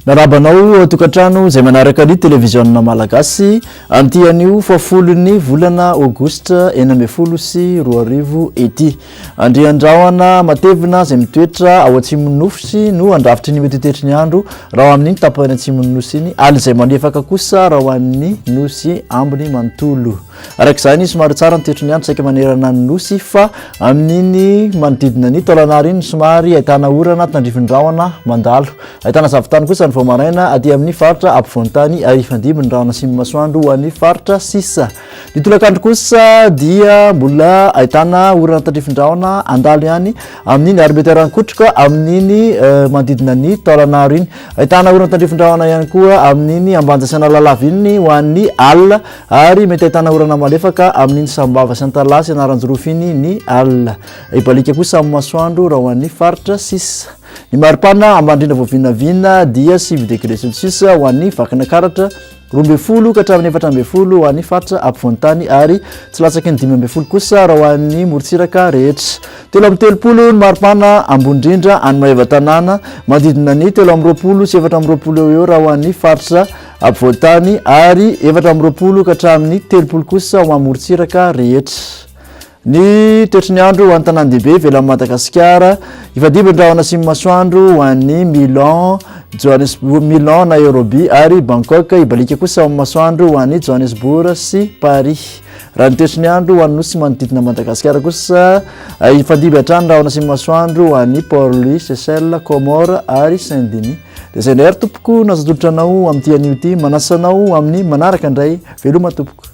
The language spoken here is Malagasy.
Naraba anao eh, tokantrano izay manaraka ny televiziona malagasy amin'ity anio fahafolon'ny volana aogositra enina ambin'ny folo sy roa arivo ity. Andriandrahona matevina izay mitoetra ao atsimon'ny nofosy no handrafitry ny mety tetry ny andro raha ho amin'iny tapany atsimon'ny nosy iny, alina izay malefaka kosa raha ho an'ny nosy ambiny manontolo. Araka izany, somary tsara ny tetry ny andro saika manerana ny nosy fa amin'iny manodidina ny taolan'ara iny somary ahitana orana tandrifindrahona mandalo. Ahitana zavon-tany kosa ny vao maraina aty amin'ny faritra ampovoan-tany ary hifandimby ny rahona sy ny masoandro ho an'ny faritra sisa. Ny tolakandro kosa dia mbola ahitana orana tandrifin-drahona handalo ihany amin'iny ary mety harankotroka amin'iny eh, manodidina ny taolanaro iny. Ahitana orana tandrifin-drahona ihany koa amin'iny ambanja sy analalava iny ho an'ny alina ary mety ahitana orana malefaka amin'iny sambava sy antalaha sy anaranjirofy iny ny alina. Hibalika kosa amin'ny masoandro raha ho an'ny faritra sisa. Ny maripana ambany indrindra vao vinavina dia sivy degré celsius ho an'ny Vakinakaratra, roa ambin'ny folo ka hatramin'ny efatra ambin'ny folo ho an'ny faritra ampovoan-tany ary tsy latsaky ny dimy ambin'ny folo kosa raha ho an'ny morontsiraka rehetra. Telo amby telopolo ny maripana ambony indrindra any Maevatanàna, manodidina ny telo amby roapolo sy efatra amby roapolo eo eo raha ho an'ny faritra ampovoan-tany ary efatra amby roapolo ka hatramin'ny telopolo kosa ho amin'ny morontsiraka rehetra. Ny toetry ny andro ho an'ny tanàn-dehibe ivelan'i Madagasikara, Hifandimby ny rahona sy ny masoandro ho an'ny Milan, Johannesburg, Milan, Nairobi ary Bangkok. Hibaliaka kosa amin'ny masoandro ho an'i Johannesburg sy Paris. Raha ny toetry ny andro ho an'ny nosy manodidina an'i Madagasikara kosa, hifandimby hatrany ny rahona sy ny masoandro ho an'i Port Louis, Seychelles, Comores ary Saint Denis. Dia izay indray ary tompoko no azo atolotra anao amin'ity anio ity. Manasa anao amin'ny manaraka indray. Veloma tompoko.